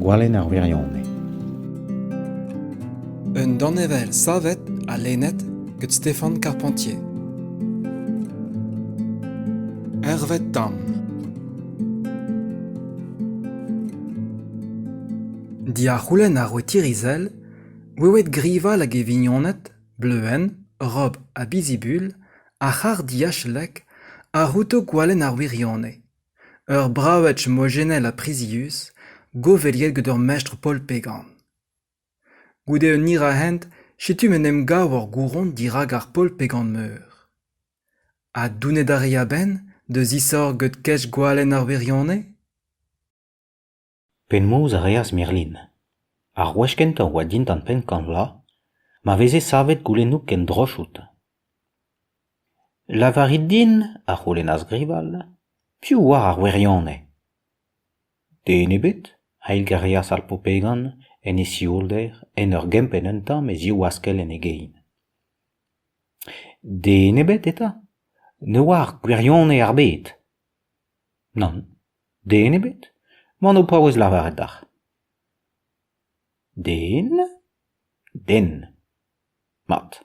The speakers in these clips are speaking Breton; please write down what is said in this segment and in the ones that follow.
Gwalenn ar wirionez. Un danevell savet ha lennet gant Stéphane Carpentier. Hervé Tam Diac'houlenn ar wetirizel, ouewet grival hag e vignoned, bleuenn, rob ha bizibul, Ar c'harr-diachalek a c'houto gwalenn ar wirionez. Ur braoued mojennel ha prizius, goveliet gant ur mestr polpegan. Goude un hiraezhent, setu m'en em gav ur gouron dirak ar polpegan-meur. Ha donet a ri a-benn da zisorgañ gant kej gwalenn ar wirionez ? Penaos a reas Merlin? Ar wech kentañ a oa dindan penn-kañv vloaz ma veze savet goulennoù kendroch outi. Lavarit din, a c'houlennas Grival, piv oar ar wirionez? Den ebet, a eilgarias ar Popegan en e sioulder en ur gempenn un tamm e ziv askell en e gein. Den ebet eta? Ne oar gwirionez ar bed? Nann. Den ebet ? M'an ho paouez lavaret deoc'h. Den ? Den ? Mat.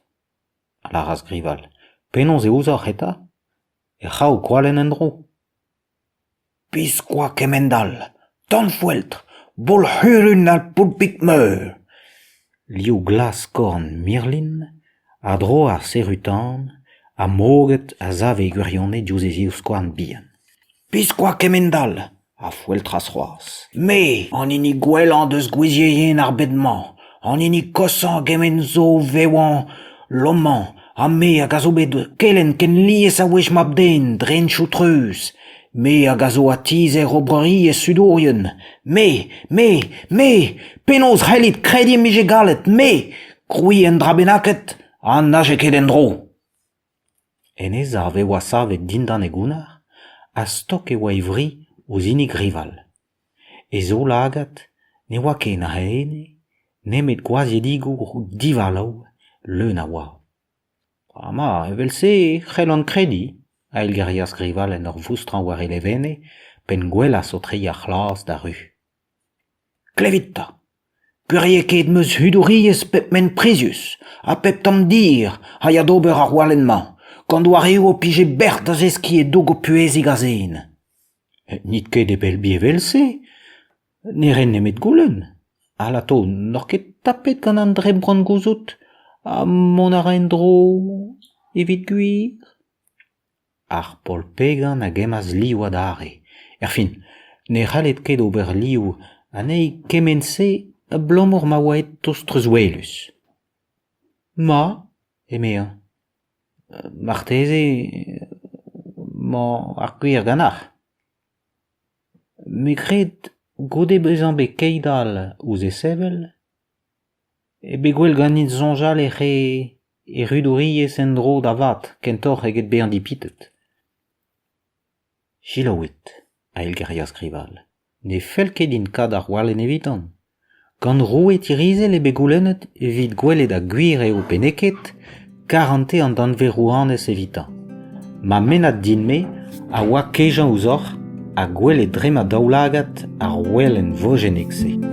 A lâras Grival. Penaos e ouzoc'h eta ? Er c'hraou gwalenn en-dro ? Biskoazh kement-all ! Tanfoueltr ! Bolc'hurun al poulpig-meur ! Liv glas-korn Mirlin a dro ar serutan ha moged a sav e gwirionez diouzh e zivskouarn bihan. Biskoazh kement-all a foeltras c'hoazh. Me, an hini gwellañ deus gwizierien ar bed-mañ, an hini koshañ kement zo o vevañ lomañ ha me hag a zo bet kelenn ken lies a wech mab-den dreñchoù treuz me hag a zo atizer oberiezh sudourien me me me penaos c'hellit krediñ em bije gallet me krouiñ un dra bennaket ha n'aje ket en-dro en e sav e oa savet dindan e gounnar ha stok e oa e vri ouzh hini grival E zaoulagad ne oa ken a ene nemet gwazhiedigoù divalav leun a oa. Ama evel-se e c'hellont krediñ, a eilgerias Grival en ur voustrañ war e levenne, p'en gwelas o treiñ ar c'hlas d'ar ru. Klevit 'ta ! Gwiriet ket em eus hudouriezh pep ment prizius ha pep tamm dir a ya d'ober ar walenn-mañ, gant doareoù ho pije bec'h da zeskiñ e dog ho puhezig a-zen. N'it ket e Belbi evel-se, ne ren nemet goulenn. Alato, n'oc'h ket tapet gant an dremmbrant-gouzout ha mont a ra en-dro evit gwir ? Ar Paol Pegan a gemmas liv adarre. Erfin, ne c'hallit ket ober liv anezhi kement-se abalamour ma oa aet tost treuzwelus. Ma ! eme-eñ. Marteze emañ ar gwir ganeoc'h. Me 'kred goude bezañ bet keit all ouzh e sevel eo bet gwell ganit soñjal ec'h e rudouriezh en-dro da vat kentoc'h eget bezañ dipitet. Selaouit, a eilgerias Grival, ne fell ket din kat arc'hwalen evitan. Gant roue Tirizel eo bet goulennet evit gwelet ha gwir eo pe n'eo ket karante an danvez-rouanez evitañ. Ma mennad din-me a oa kejañ ouzhoc'h ha gwelet dre ma daoulagad ar ouelenn vojennek-se.